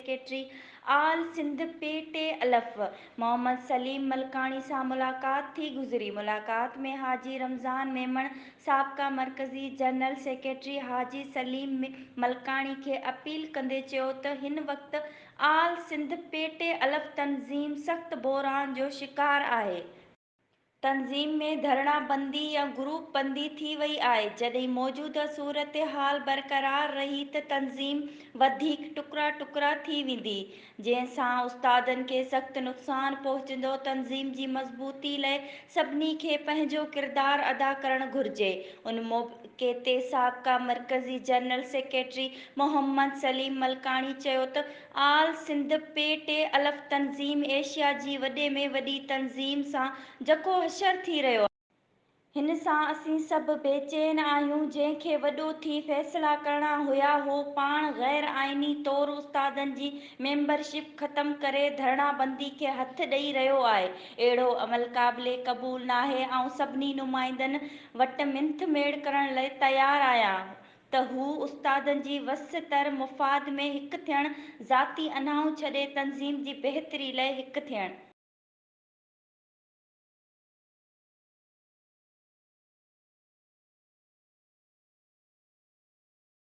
Secretary all Sindh P T الف محمد سليم ملڪاڻي سان ملاقات ٿي گذري ملاقات ۾ حاجي رمضان ميمڻ سابقه مرڪزي جنرل سيڪريٽري حاجي سليم ملڪاڻي کي اپيل ڪندي چيو ته هن وقت آل سنڌ پي ٽي الف تنظيم سخت بحران جو شڪار آهي تنظيم ۾ ڌرڻا بندي يا گروپ بندي ٿي وئي آهي، جڏهن موجوده صورتحال برقرار رهي ته تنظيم وڌيڪ ٽڪرا ٽڪرا ٿي ويندي، جنهن سان استادن کي سخت نقصان پهچندو، تنظيم جي مضبوطي لئه سڀني کي پنهنجو ڪردار ادا ڪرڻ گهرجي، ان موقعي تي سابقه مرڪزي جنرل سيڪريٽري محمد سليم ملڪاڻي چيو ته. آل سنڌ پي ٽي الف تنظيم ايشيا جي وڏي ۾ وڏي تنظيم سان جکو حشر ٿي رهيو آهي. هن سان اسين سڀ بي چين آهيون جنهن کي وڏو ٿي فيصلا ڪرڻا هيا هو پاڻ غير آئيني طور استادن جي ميمبر شپ ختم ڪري ڌرڻا بندي کي هٿ ڏئي رهيو آهي اهڙو عمل قابل قبول ناهي آئون سڀني نمائندن وٽ منٿ ميڙ ڪرڻ لئي تيار آهيان ته هو استادن جي وس تر مفاد ۾ هڪ ٿيڻ، ذاتي اناهون ڇڏي تنظيم جي بهتري لئه هڪ ٿيڻ.